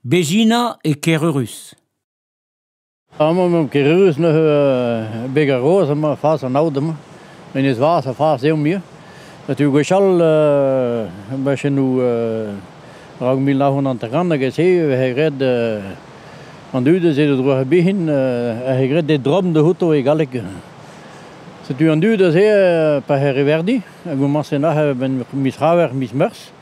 Bezina e Kerurrus. Amañ emaomp Kerurrus neuze beg ar Roz emañ fas an aod amañ. Menez Vaz ha fas eo muiañ. Setu gwechall bajennoù raok mil nav c'hant hanter-kant hag e-se e vehe graet an dud a-se d'o droarebihin a c'he graet e dromm outo e galleg. Setu an dud aze pa c'he reverdi a gomañse nac'h a-benn miz C'haver, miz Meurzh.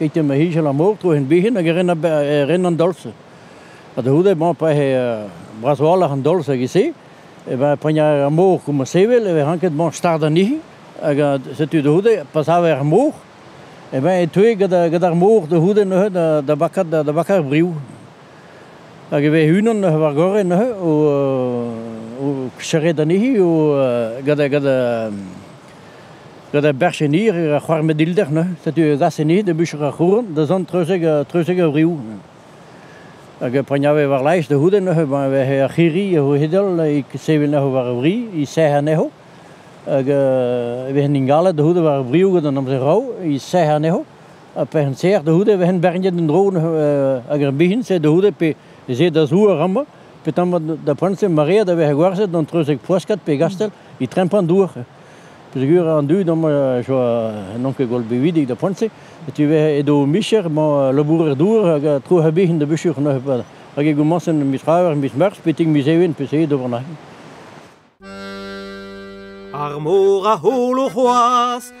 Keit ma hijal am ôv tro hen bihan hag e ren, e ren an dolz. Ha da c'houde, bon, pa eo bras-walc'h an dolz hag e-se, e ben, pagn ar mor koum sevel, e vez ranket, bon, start anezhi. Hag setu da c'houde, pa sav ar mor, e ben, e teu gant ar mor da c'houde neuze da bakat da bakat ar briou. Hag e vez unan neuze war gore neuze o, o serret anezhi, o gant, gant Gant ar berchennier er c'houarnvedilder neuze, setu e zaseni da bucher ar c'houren da zont treuzek treuzek a vriou. Hag a pregnave war laez da c'houde neuze, ben, vehe ar c'hirri a c'ho hedel, e sevel neuze war a vri, e sec'h anezho. Hag e vehen ingalet da c'houde war a vriou gant an amzer rao, e sec'h anezho. Ha pec'hen serr da c'houde vehen berniet en dro neuze, hag ar bihin se da c'houde pe se da zour ama, pe tamm da prentse marea da vehe gwerzet gant treuzek poaskat pe gastel. e trempan dour peogwir an dud amañ n'on ket gwall bevidik da poent-se tu vez edo o micher mañ labourer dour hag a tro a-bezh da bicher neuze hag e gomañsen miz c'haver miz mars betek miz even peseurt d'ober nahi Ar mor a holo c'hoazh